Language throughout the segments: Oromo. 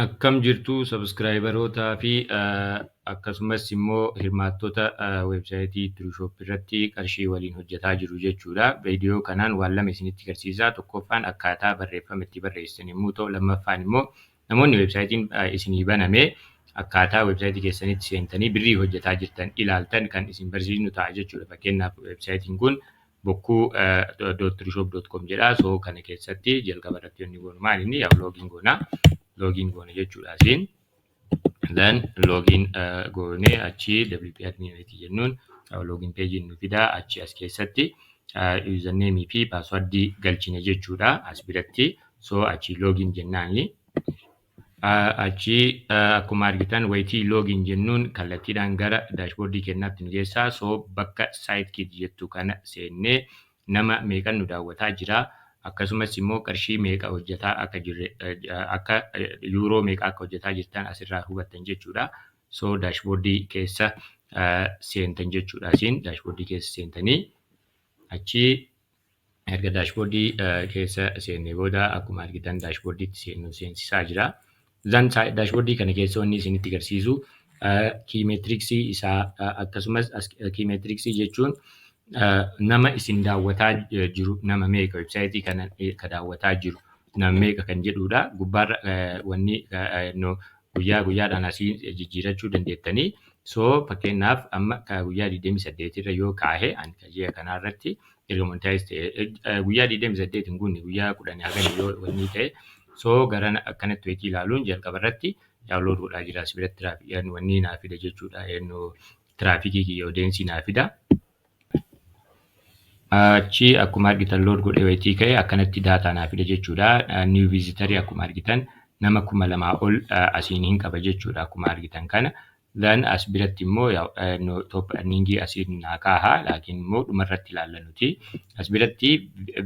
Akkam jirtu sabskraayibarootaa fi akkasumas immoo hirmaattota weebsaayitii Tiruushoop irratti qarshii waliin hojjetaa jiru jechuudha. Viidiyoo kanaan waan lama isinitti garsiisaa. Tokkoffaan akkaataa barreeffama itti barreessan yommuu ta'u, lammaffaan immoo Namoonni websaayitiin isinii baname akkaataa websaayitii keessanitti seentanii birrii hojjetaa jirtan ilaaltan kan isin barsiisnu ta'a jechuudha. Fakkeenyaaf websaayitiin kun bokkuu dot trishop dot com jedha. So kana keessatti jalqaba irratti wanni goonu maal inni yaa login goona. Login goona jechuudha asiin. Then login goone achi wp admin wayiti jennuun login page nu fida achi as keessatti username fi password galchina jechuudha as biratti. so achii login jennaani achii akkuma argitan wayitii login jennuun kallattiidhaan gara daashboordii kennaatti nu geessaa so bakka site kit jettu kana seennee nama meeqan nu daawwataa jira akkasumas immoo qarshii meeqa hojjetaa akka jirre akka yuuroo meeqa akka hojjetaa jirtan asirraa hubattan jechuudha so daashboordii keessa seentan jechuudha asiin daashboordii keessa seentanii achii Erga dashboard keessa seennee booda akkuma argitan dashboard itti seennu seensisaa jira. Zan dashboard kana keessa wanni isinitti agarsiisu key metrics isaa akkasumas key metrics jechuun nama isin daawwataa jiru nama meeqa website kana ka daawwataa jiru nama meeqa kan jedhudha. Gubbaarra wanni guyyaa guyyaadhaan asii jijjiirachuu dandeettanii. So fakkeenyaaf amma guyyaa 28 irra yoo kaahe ani ji'a kanaa irratti erga monetize ta'e guyyaa 28 hin guunne guyyaa 10 hagan yoo wanni ta'e so gara akkanatti weetii ilaaluun jalqaba irratti download godhaa jira si biratti tiraafikii wanni naa fida jechuudha eenyu tiraafikii kiyya odeensii naa fida. Achi akkuma argitan load godhee weetii ka'e akkanatti daataa naa fida jechuudha new visitor akkuma argitan nama kuma lamaa ol asiin hin qaba jechuudha akkuma argitan kana. Then as biratti immoo yaw no top earning asii naa kaaha laakiin immoo dhuma irratti ilaalla nuti. As biratti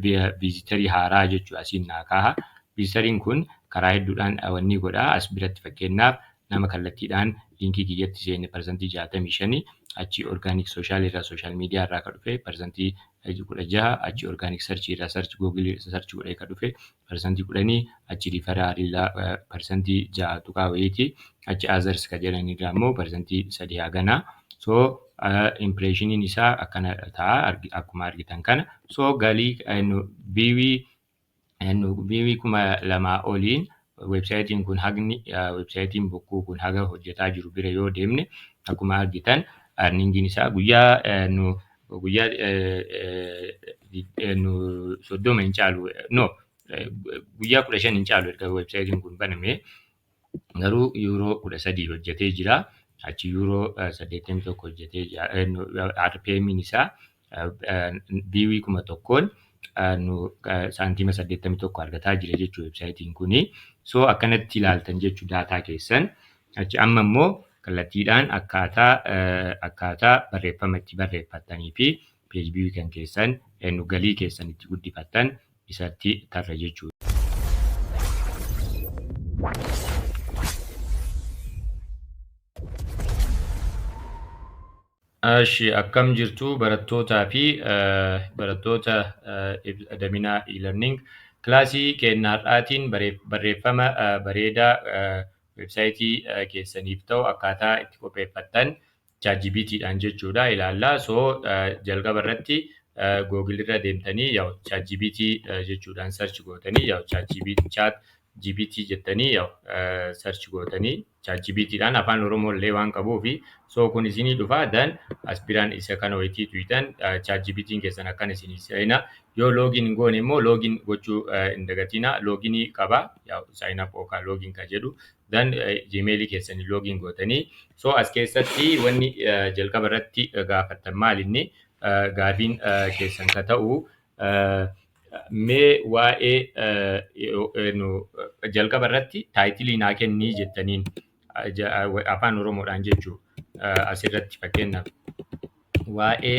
viizitarii haaraa jechuu asiin naa kaaha. Viizitariin kun karaa hedduudhaan wanni godha. As biratti fakkeenyaaf nama kallattiidhaan liinkii kiyyatti seene parsantii 65 achii orgaanik sooshaal irraa sooshaal miidiyaa irraa ka dhufe parsantii 16 achii orgaanik sarchii irraa sarchi googilii sarchi godhee ka dhufe percent kudhanii achi referral irraa percent ja'a tuqaa wayiiti achi others ka jedhan irraa immoo percent sadii hagana so impressioniin isaa akkana ta'a akkuma argitan kana so galii viiwii viiwii kuma lamaa oliin websaayitiin kun hagni websaayitiin bokkuu kun haga hojjetaa jiru bira yoo deemne akkuma argitan arningiin isaa guyyaa guyyaa soddoma hin caalu no guyyaa kudha shan hin caalu erga websaayitiin kun baname garuu yuuroo kudha sadii hojjetee jira achi yuuroo saddeettamii tokko hojjetee jira RPMiin isaa biiwii kuma tokkoon nu saantiima saddeettamii tokko argataa jira jechuu websaayitiin kuni so akkanatti ilaaltan jechuu daataa keessan Achi amma immoo kallattiidhaan akkaataa akkaataa barreeffama itti barreeffattanii fi page view kan keessan nu galii keessan itti guddifattan isatti tarra jechuudha. Ashi akkam jirtu barattootaa fi barattoota Adaminaa e-learning kilaasii keenya har'aatiin barreeffama bareedaa websaayitii keessaniif ta'u akkaataa itti qopheeffattan ChatGPT dhaan jechuudha ilaalla. So jalqaba irratti Google irra deemtanii yaw ChatGPT jechuudhaan search gootanii yaw ChatGPT chat GPT jettanii yaw search gootanii ChatGPT dhaan afaan Oromoo illee waan qabuufi so kun isinii dhufa dan aspiraan isa kana wayitii tuytan ChatGPT keessan akkan isinii seena yoo login goone immoo login gochuu hin dagatina loginii qaba sign up yookaan login kan jedhu dan gmail keessanii login gootanii so as keessatti wanni jalqaba irratti gaafattan maal inni gaafiin keessan ka ta'u mee waa'ee jalqaba irratti taayitilii naa kennii jettaniin afaan oromoodhaan jechuu asirratti fakkeenyaaf waa'ee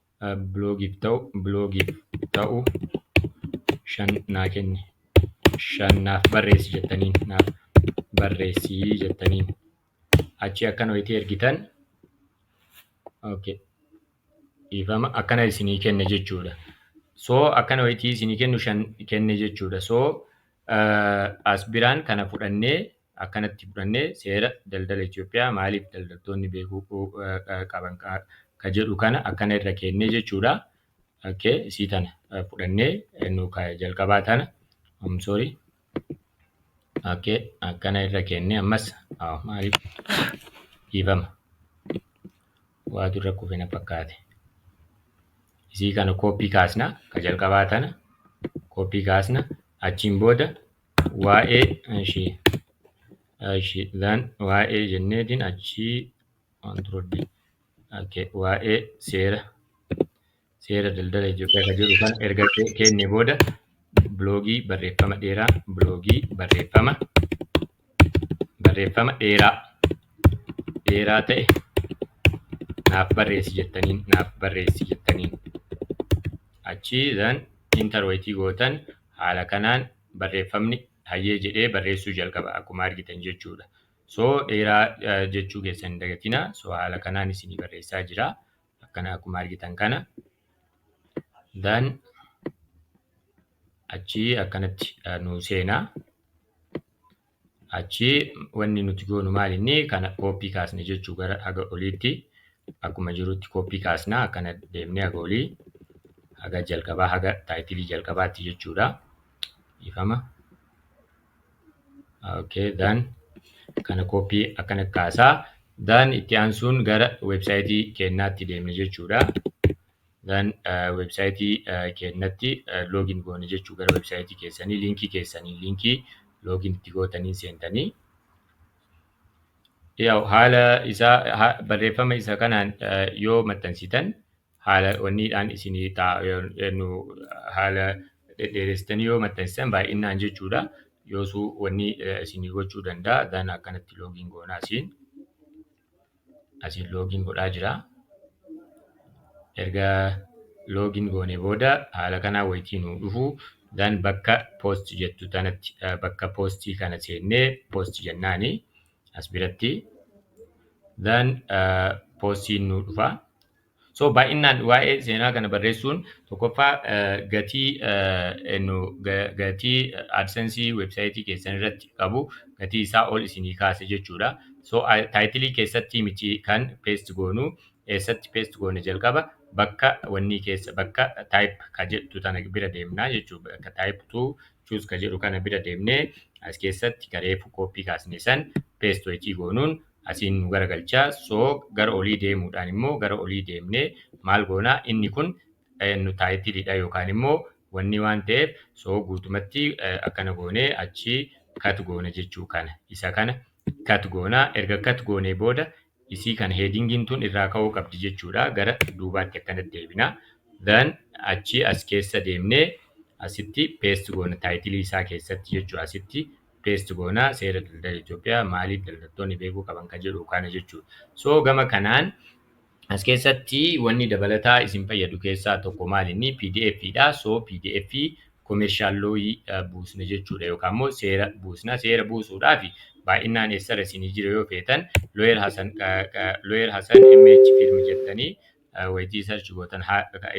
blogif ta'u blogif ta'u shan naa kenni shan naaf barreessi jettaniin naaf barreessi jettaniin achi akkana wayitii ergitan okay dhiifama akkana isinii kenne jechuudha so akkana wayitii isinii kennu shan kenne jechuudha so as biraan kana fudhannee akkanatti fudhannee seera daldala Itoophiyaa maaliif daldaltoonni beekuu qaban ka jedhu kana akkana irra keennee jechuudha. Okay, isii tana fudhannee nu ka jalqabaa tana I'm sorry. Okay, akkana irra keennee ammas ah, maaliif dhiifama waatu irra kufe na fakkaate. Isii kana kooppii kaasna ka jalqabaa tana kooppii kaasna achiin booda Waa'ee ishi ishi then waa'ee jenneetiin achii waan turuddi okay. waa'ee seera seera daldala Itoophiyaa kan jedhu kan erga ke- kenne booda biloogii barreeffama dheeraa biloogii barreeffama barreeffama dheeraa dheeraa ta'e naaf barreessi jettaniin naaf barreessi jettaniin achii then intarweetii gootan Haala kanaan barreeffamni hayyee jedhee barreessuu jalqaba akkuma argitan jechuudha. So dheeraa jechuu keessan hin dagatina. So haala kanaan isinii barreessaa jira. Akkana akkuma argitan kana. Then achii akkanatti nu seenaa. achi wanni nuti goonu maal inni kana kooppii kaasne jechuu gara haga oliitti akkuma jirutti kooppii kaasna akkana deemne haga olii haga jalqabaa haga taayitilii jalqabaatti jechuudha ifama okay dan kana kooppii akkana kaasaa dan itti aansuun gara weebsaayitii keennaatti deemne jechuudha Then website keennatti login goone jechuu gara website keessanii linkii keessanii linkii login itti gootaniin seentanii yaa'u haala isaa ha- barreeffama isa kanaan eh, yoo maxxansitan haala wanniidhaan isinii ta'a yoo- nu haala dhedheeressitanii yoo maxxansitan baay'inaan jechuudha yoosuu wanni eh, isinii gochuu danda'a dan akkanatti loogiin goonaa siin asiin loogiin godhaa jira. Erga loogiin goone booda haala kanaa wayitii nuu dhufu dan bakka post jettu tanatti bakka postii kana seennee post jennaani as biratti dan postiin nuu dhufa. So baay'inaan waa'ee seenaa kana barreessuun tokkoffaa gatii nu gatii AdSense website keessan irratti qabu gatii isaa ol isinii kaase jechuudha. So title keessatti miti kan paste goonu eessatti paste goona jalqaba bakka wanni keessa bakka type ka jedhu tana bira deemna jechuudha. Bakka type to choose ka jedhu kana bira deemnee as keessatti kareefu copy kaasne san paste waytii goonuun asiin nu garagalchaa so gara olii deemuudhaan immoo gara olii deemnee maal goonaa inni kun nu taayitiliidha yookaan immoo wanni waan ta'eef so guutumatti akkana goonee achi kat goona jechuu kana isa kana kat goonaa erga kat goonee booda isii kana heedingiin tun irraa ka'uu qabdi jechuudha gara duubaatti akkana deebina dan achi as keessa deemnee asitti peest goona taayitilii isaa keessatti jechuu asitti paste goona seera daldala Itoophiyaa maaliif daldaltoonni beekuu qaban kan jedhu kana jechuudha. So gama kanaan as keessatti wanni dabalataa isin fayyadu keessaa tokko maalinni pdf dha. So pdf commercial law buusna jechuudha yookaan immoo seera buusna. Seera buusuudhaaf baay'inaan eessarra isinii jira yoo feetan lawyer Hasan lawyer Hasan MH firm jettanii waytii search gootan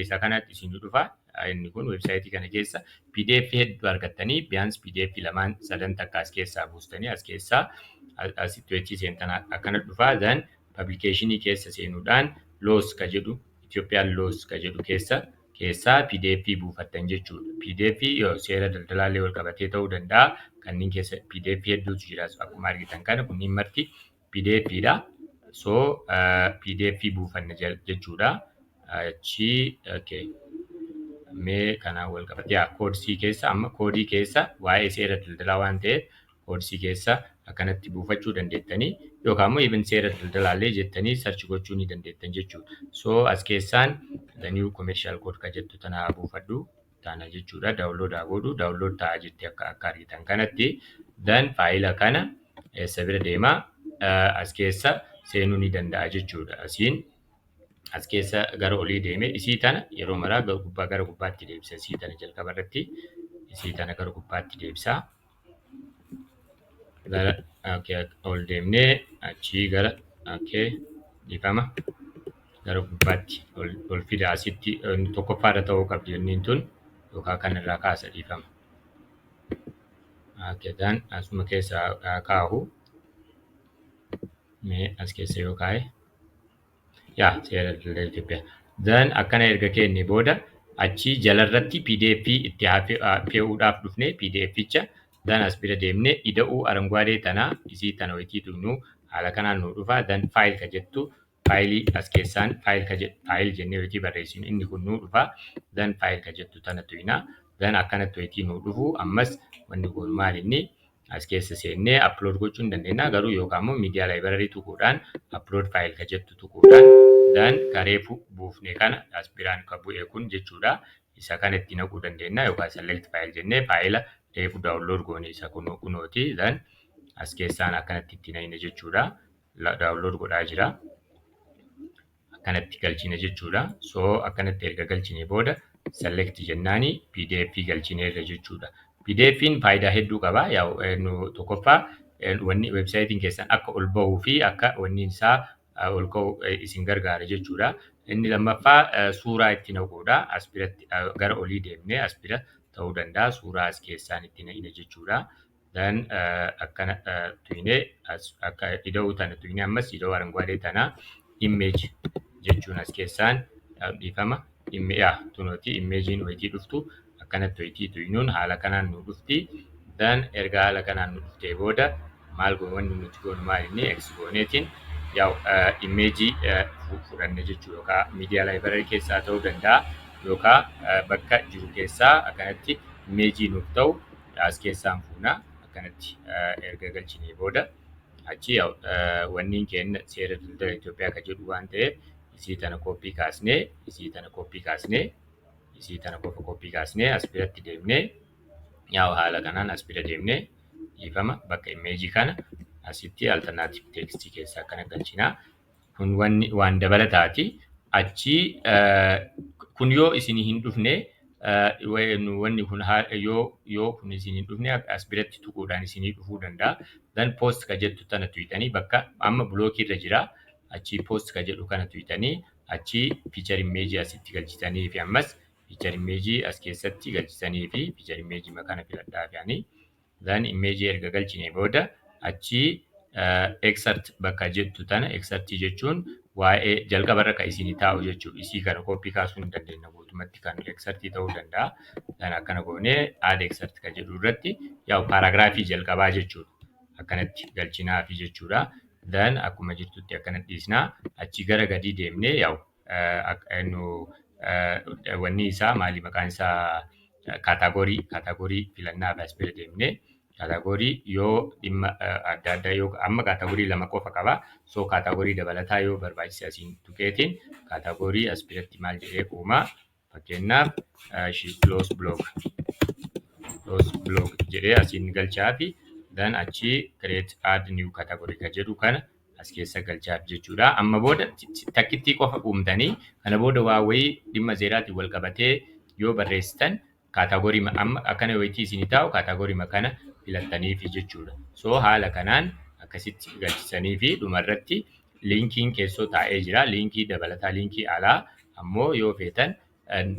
isa kanatti isin dhufa inni kun website kana keessa pdf hedduu argattanii biyaans pdf lamaan sadan takka as keessaa buustanii as keessaa asitti waytii seentan akkana dhufa then publicationii keessa seenuudhaan loos ka jedhu Ethiopian loos ka jedhu keessa keessaa pdf buufattan jechuudha pdf yoo seera daldalaallee wal qabatee ta'uu danda'a kanneen keessa pdf hedduutu jira akkuma argitan kana kunniin marti pdf dha. So pdf buufanne jechuudha. Achi okay. Mee kana wal qabatee yaa koodisii keessa amma koodii keessa waa'ee seera daldalaa waan ta'eef koodisii keessa akkanatti buufachuu dandeettanii yookaan immoo even seera daldalaallee jettanii sarchi gochuu ni dandeettan jechuudha. So as keessaan the new commercial code ka jettu tana buufadhu. taana jechuudha download haa godhu download ta'a jetti akka akka argitan kanatti dan faayila kana eessa bira deema as keessa seenuu ni danda'a jechuudha asiin as keessa gara olii deeme isii tana yeroo maraa gubbaa gara gubbaatti deebisa isii tana jalqaba irratti isii tana gara gubbaatti deebisa. gara okay, ol deemnee achii gara okay, dhiifama gara gubbaatti ol, ol fida asitti inni tokkoffaa irra ta'uu qabdi inniin tun yookaan kan irraa kaasa dhiifama. Okay, dan asuma keessa haa kaahu mee as keessa yoo kaa'e yaa seera daldala Itoophiyaa. Then akkana erga keenne booda achii jalarratti pdf itti haa fe- haa fe'uudhaaf dhufne pdfcha then as bira deemne ida'uu arangwaadee tana isii tana wayitii tuqnu haala kanaan nuu dhufa then file ka jettu faayilii as keessaan file ka jedhu file jennee wayitii barreessinu inni kun nuu dhufa then file ka jettu tana tuyna then akkanatti wayitii nuu dhufu ammas wanni kun maal inni as keessa seennee upload gochuu hin dandeenya garuu yookaan immoo media library tuquudhaan upload file ka jettu tuquudhaan dan ka reefu buufne kana as biraan ka bu'e kun jechuudha isa kana itti naquu dandeenya yookaan select file jennee faayila reefu download goone isa kunoo kunooti dan as keessaan akkanatti itti naqne jechuudha download godhaa jira. akkanatti galchine jechuudha. So akkanatti erga galchine booda select jennaani pdf galchineerra jechuudha. PDF'n faayidaa hedduu qaba. Yaa'u nu tokkoffaa eh, wanni websaayitiin keessan akka ol bahuu fi akka wanni isaa eh, ol ka'u eh, isin gargaara jechuudha. Inni lammaffaa eh, suuraa itti naquudha. As biratti eh, gara olii deemnee as bira ta'uu danda'a. Suuraa as keessaan itti naqina jechuudha. Then akkana tuyne akka ida'uu tana tuyne ammas ida'uu aranguwaadee tana image jechuun as keessaan dhiifama immiyaa tunooti imeejiin wayitii dhuftu akkanatti wayitii tuynuun haala kanaan nu dhufti. Then erga haala kanaan nu dhuftee booda maal goon wanni nuti goonu maal inni ex gooneetiin yaa'u imeejii fudhanne jechuu yookaan miidiyaa laayibrarii keessaa ta'uu danda'a yookaan bakka jiru keessaa akkanatti imeejii nuuf ta'u as keessaan fuuna akkanatti erga galchinee booda achi wanniin keenya seera daldala Itoophiyaa kan jedhu waan ta'eef isii tana kooppii kaasnee isii tana kooppii kaasnee isii tana qofa kooppii kaasnee as biratti deemnee yaa'u haala kanaan as bira deemnee dhiifama bakka imeejii kana asitti alternaatif teekstii keessa akkana galchinaa Kun wanni waan dabalataati. Achi kun yoo isinii hin dhufne wanni kun yoo yoo kun isin hin dhufne as biratti tuquudhaan isinii dhufuu danda'a. Then post ka jettu tana tuyxanii bakka amma block irra jira. Achi post ka jedhu kana tuyxanii achi picture image asitti galchitanii fi ammas picture image as keessatti galchitanii fi picture image ma kana filadhaa fi ani then image erga galchine booda achi excerpt bakka jettu tana excerpt jechuun waa'ee jalqaba irra kan isin taa'u jechuudha. Isii kana copy kaasuu hin dandeenya guutumatti kan excerpt ta'uu danda'a. Then akkana goonee add excerpt kan jedhu irratti yaa'u paragraafii jalqabaa jechuudha. Akkanatti galchinaafi jechuudha. Then akkuma jirtutti akkana dhiisna. Achi gara gadii deemnee yaa'u Wanni isaa maali maqaan isaa kaataagorii kaataagorii filannaa fi asbira deemnee kaataagorii yoo dhimma adda addaa yoo amma kaataagorii lama qofa qaba soo kaataagorii dabalataa yoo barbaachise asiin tuqeetiin kaataagorii asbiratti maal jedhee uumaa Fakkeenyaaf she close blog close blog jedhee asiin galchaa fi dan achii create add new category ka jedhu kana as keessa galchaaf jechuudha. Amma booda takkittii qofa uumtanii kana booda waa wayii dhimma seeraatiin wal qabatee yoo barreessitan kaataagorii amma akkana wayitii isin taa'u kaataagorii kana filattaniifi jechuudha. So haala kanaan akkasitti galchisanii fi dhumarratti Linkiin keessoo taa'ee jira. Linkii dabalataa linkii alaa ammoo yoo feetan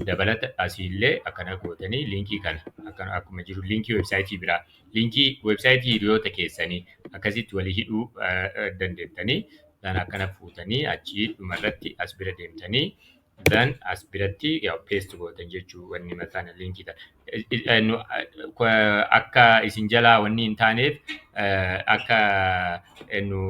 dabalata asiillee akkana gootanii linkii kana akkana akkuma jiru linkii weebsaayitii biraa linkii weebsaayitii hiriyoota keessanii akkasitti walii hidhuu dandeettanii kan akkana fuutanii achii dhumarratti as bira deemtanii Then as biratti yaa paste gootan jechuu wanni mataan linkii ta akka isin jalaa wanni hin taaneef akka nu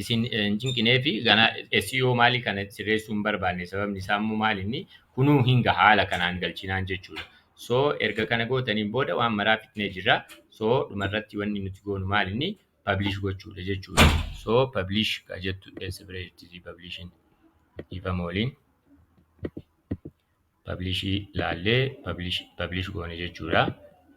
isin hin cinqinee fi ganaa SEO maalii kana sirreessuu hin barbaanne sababni isaa immoo maal inni kunuu hin gaha haala kanaan galchinaan jechuudha. So erga kana gootaniin booda waan maraa fixnee jirra. So dhumarratti wanni nuti goonu maal inni publish gochuudha jechuudha. So publish ka jettu else bira jirti publishin dhiifama waliin publish laallee publish publish goone jechuudha.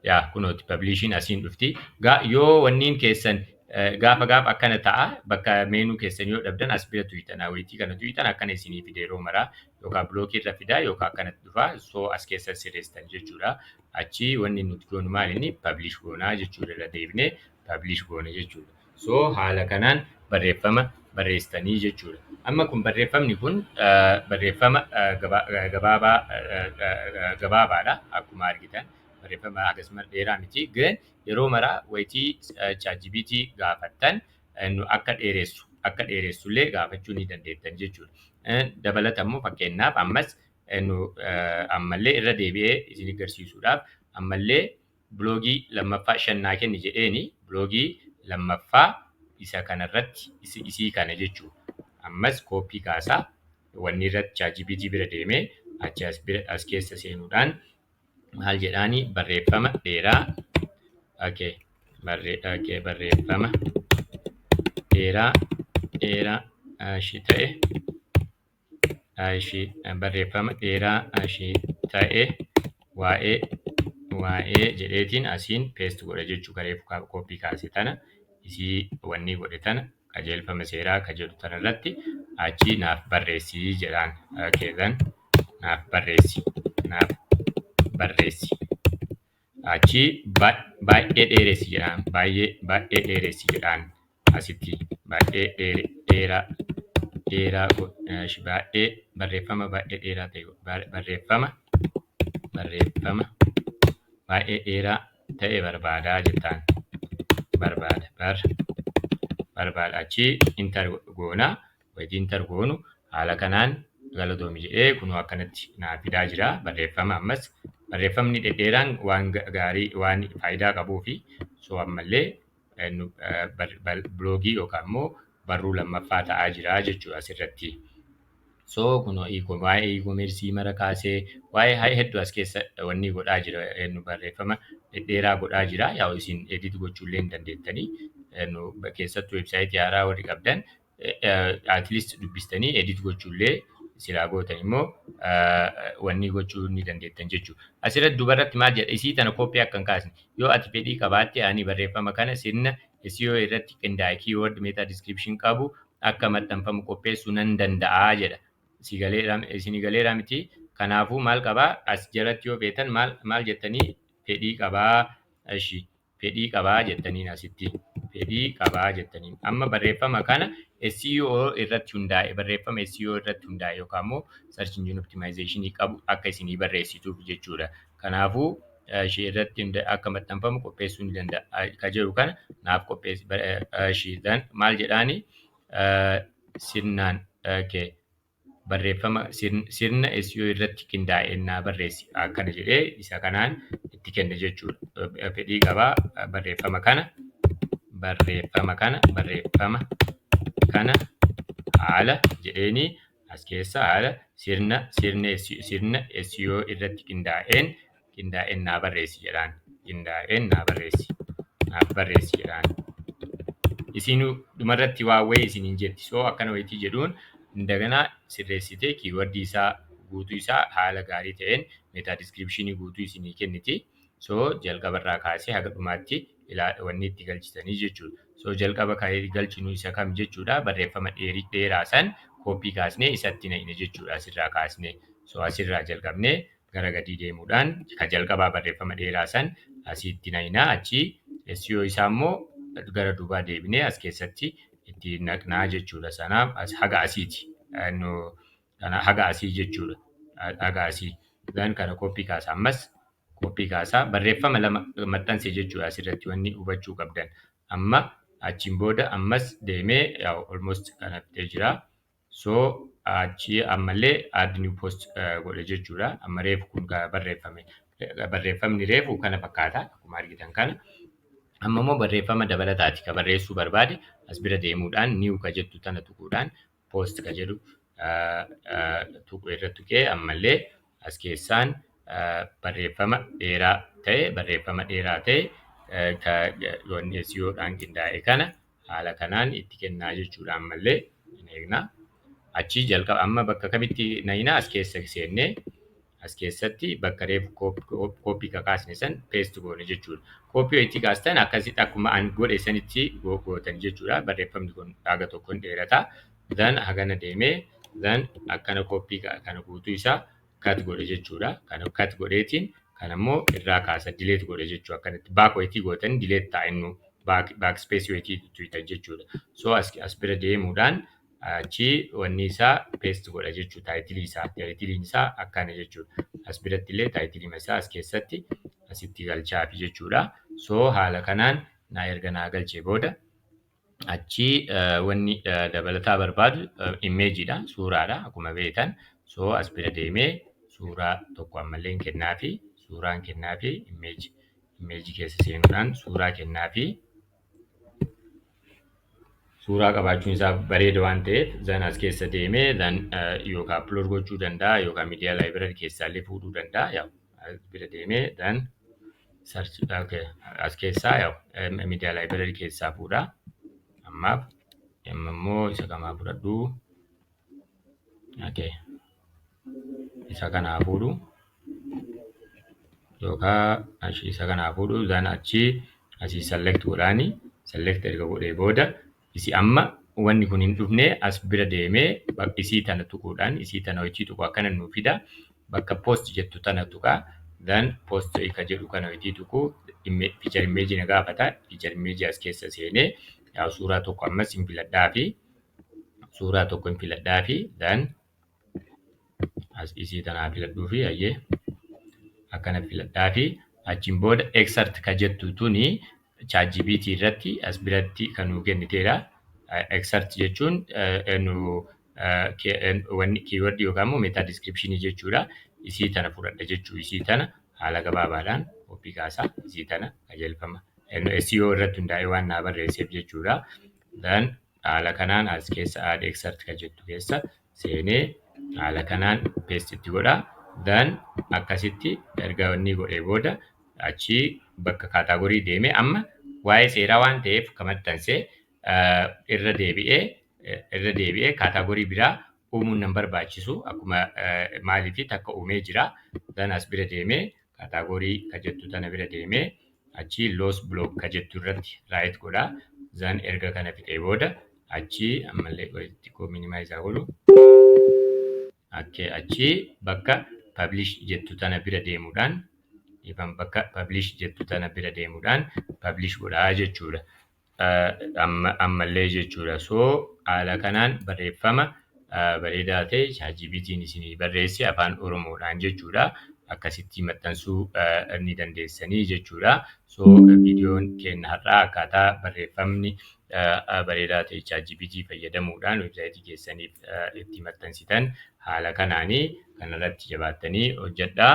Yaa kunooti publishin asiin dhufti. Gaa yoo wanniin keessan eh, gaafa gaafa akkana ta'a bakka meenuu keessan yoo dhabdan as bira tuyxan awweetii kana tuyxan akkana isinii fide yeroo maraa yookaan bilookii irra fidaa yookaan akkanatti dhufa so as keessa sirreessitan jechuudha. Achi wanni nuti goonu maal inni publish goonaa jechuudha irra deebinee publish goone jechuudha. So haala kanaan barreeffama barreessitanii jechuudha. Amma kun barreeffamni kun ah, barreeffama ah, gaba- ah, gabaabaa ah, ah, gabaabaadha akkuma argitan barreeffama hagas mara dheeraa miti garuu yeroo maraa wayitii ChatGPT gaafattan eh, nu akka dheeressu akka dheeressullee gaafachuu ni dandeettan jechuudha. Eh, Dabalata immoo fakkeenyaaf ammas eh, nu eh, ammallee irra deebi'ee isin agarsiisuudhaaf ammallee Biloogii lammaffaa shan naa kenni jedheeni biloogii lammaffaa isa kana irratti isi- isii kana jechuu ammas copy kaasa wanni irratti chatgpt bira deeme achi as bira as keessa seenuudhaan maal jedhaani barreeffama dheeraa okay barre okay barreeffama dheeraa dheeraa ashi ta'e ishii barreeffama dheeraa ishii ta'e waa'ee waa'ee jedheetiin asiin peest godha jechuu garee kooppii kaase tana isii wannii godhe tana qajeelfama seeraa ka jedhu tana irratti achi naaf barreessii jedhaan keessan naaf barreessi naaf barreessi achii baay'ee dheeressi jedhaan baay'ee baay'ee dheeressi jedhaan asitti baay'ee dheeraa dheeraa baay'ee barreeffama baay'ee dheeraa ta'e barreeffama barreeffama baay'ee dheeraa ta'e barbaadaa jettaan barbaada bar barbaada achii intar goonaa wayiti inter goonu haala kanaan galatoomi jedhee kunoo akkanatti naa fidaa jira barreeffama ammas barreeffamni dhedheeraan waan gaarii waan faayidaa qabuu fi soo ammallee biloogii yookaan immoo barruu lammaffaa ta'aa jira jechuudha asirratti. So kunoo waa'ee e-commerce mara kaasee waa'ee hedduu as keessa wanni godhaa jira nu barreeffama dhedheeraa godhaa jira yaa'u isin edit gochuullee hin dandeettanii keessattuu websaayitii haaraa warri qabdan at least dubbistanii edit gochuullee silaa gootan immoo wanni gochuu ni dandeettan jechuudha. Asirratti dubarratti maal jedha isii tana koppii akka hin kaasne yoo ati fedhii qabaatte ani barreeffama kana sirna SEO irratti qindaa'e keyword meta description qabu akka maxxanfamu qopheessuu nan danda'a jedha. Si galeera isin galeera miti kanaafuu maal qabaa as jalatti yoo feetan maal maal jettanii fedhii qabaa ishi fedhii qabaa jettaniin asitti fedhii qabaa jettaniin amma barreeffama kana SEO irratti hundaa'e barreeffama SEO irratti hundaa'e yookaan immoo search engine optimization qabu akka isinii barreessituuf jechuudha. Kanaafuu ishee irratti akka maxxanfamu qopheessuu ni danda'a. Ka jedhu kana naaf qopheessi ishee maal jedhaani sirnaan barreeffama sirna SEO irratti qindaa'e naa barreessi akkana jedhee isa kanaan itti kenne jechuudha. Fedhii qaba barreeffama kana barreeffama kana barreeffama kana haala jedheeni as keessa haala sirna sirna sirna SEO irratti qindaa'een qindaa'een naa barreessi jedhaan qindaa'een naa barreessi naaf barreessi jedhaan isiin dhumarratti waa wayii isin hin jetti soo akkana wayitii jedhuun indagana sirreessitee kiiwardii isaa guutuu isaa haala gaarii ta'een meetaa diskiripshinii guutuu isinii kenniti soo jalqaba irraa kaasee haga dhumaatti ilaa wanni itti galchitanii jechuudha soo jalqaba kan galchinu isa kam jechuudha barreeffama dheerii dheeraa san kooppii kaasnee isatti naqne jechuudha asirraa kaasnee soo asirraa jalqabnee gara gadii deemuudhaan ka jalqabaa barreeffama dheeraa san asiitti nayna achii SEO isaa immoo gara duubaa deebinee as keessatti itti naqnaa jechuudha sanaaf as haga asiiti nu kana haga asii jechuudha A- haga asii gan kana koppii kaasa ammas koppii kaasaa barreeffama lama maxxanse jechuudha asirratti wanni hubachuu qabdan amma achiin booda ammas deemee yaa almost kana fixee jira So achi ammallee add new post godhe jechuudha. Amma reefu kun kan barreeffame. Barreeffamni reefu kana fakkaata akkuma argitan kana. Amma immoo barreeffama dabalataati kan barreessuu barbaade as bira deemuudhaan new ka jettu tana tuquudhaan post ka jedhu tuqu irra tuqee ammallee as keessaan barreeffama dheeraa ta'e barreeffama dheeraa ta'e ka wanni SEO dhaan qindaa'e kana haala kanaan itti kennaa jechuudha ammallee hin eegnaa. Achii jalqaba amma bakka kamitti nayinaa as keessa seennee as keessatti bakka reefu kooppii kakaasne san peest goone jechuudha. Kooppii yoo itti kaastan akkasitti akkuma an godhe sanitti gootani jechuudha. Barreeffamni kun haga tokkoon dheerata. then hagana deemee then akkana copy kana guutuu isaa cut godhe jechuudha kana cut godheetiin kana immoo irraa kaasa delete godhe jechuu akkanatti back wayitii gootanii delete ta'a innu back back space wayitii tuita jechuudha so as as bira deemuudhaan achi wanni isaa paste godha jechuu taayitilii isaa taayitiliin isaa akkana jechuudha as biratti illee taayitilima isaa as keessatti asitti galchaafi jechuudha so haala kanaan naa erga naa galchee booda achi wanni dabalataa barbaadu imeejiidha suuraadha akkuma beektan soo as bira deemee suuraa tokko ammallee hin kennaafi suuraan kennaafi imeeji imeeji keessa seenuudhaan suuraa kennaafi suuraa qabaachuun isaa bareeda waan ta'eef zan as keessa deemee zan yookaan upload gochuu danda'a yookaan miidiyaa laayibirar keessaallee fuudhuu danda'a yaa as bira deemee zan Search okay. As keessaa yaa'u eh, media library keessaa fuudha. Ammaaf amma immoo isa kamaa fudhadhu. Okay. Isa kanaa fuudhu. Yookaan achi isa kanaa fuudhu. Isaan achi asii select godhaani. Select erga godhee booda Isi amma wanni kun hin dhufne as bira deeme bak isii tana tuquudhaan isii tana hoitii tuqu akkana nuu fida bakka post jettu tana tuqa then post ka jedhu kana hoitii tuqu imme feature image na gaafata feature image as keessa seene yaa suuraa tokko ammas hin filadhaafi suuraa tokko hin filadhaafi then as isii tanaa filadhuu fi ayyee akkana filadhaa fi achiin booda exert ka jettu tuni ChatGPT irratti as biratti kan nuu kenniteedha. Exert jechuun nu wanni keyword yookaan immoo meta description jechuudha. Isii tana fudhadha jechuu isii tana haala gabaabaadhaan qophii kaasaa isii tana qajeelfama. SEO irratti hundaa'ee waan naa barreesseef jechuudha. Then Haala kanaan as keessa add excerpt kan jettu keessa seenee haala kanaan paste itti godha. Then akkasitti erga inni godhee booda achi bakka kaataagorii deemee amma waa'ee seeraa waan ta'eef kan maxxanse irra deebi'ee irra deebi'ee kaataagorii biraa uumuun nan barbaachisu akkuma maaliifi takka uumee jira dan as bira deemee kaataagorii ka jettu tana bira deemee achii loos block ka jettu irratti raayit godha zan erga kana fixee booda achii ammallee qoyatti koo minimaayiz haa godhu akkee achii bakka publish jettu tana bira deemuudhaan ifan bakka publish jettu tana bira deemuudhaan publish godhaa jechuudha ammallee jechuudha. So haala kanaan barreeffama bareedaa ta'e ChatGPT'n isinii barreesse afaan Oromoodhaan jechuudha. Akkasitti maxxansuu ni dandeessanii jechuudha. So viidiyoon keenya har'aa akkaataa barreeffamni bareedaa ta'e ChatGPT fayyadamuudhaan websaayitii keessaniif itti maxxansitan haala kanaanii kanarratti jabaattanii hojjedhaa.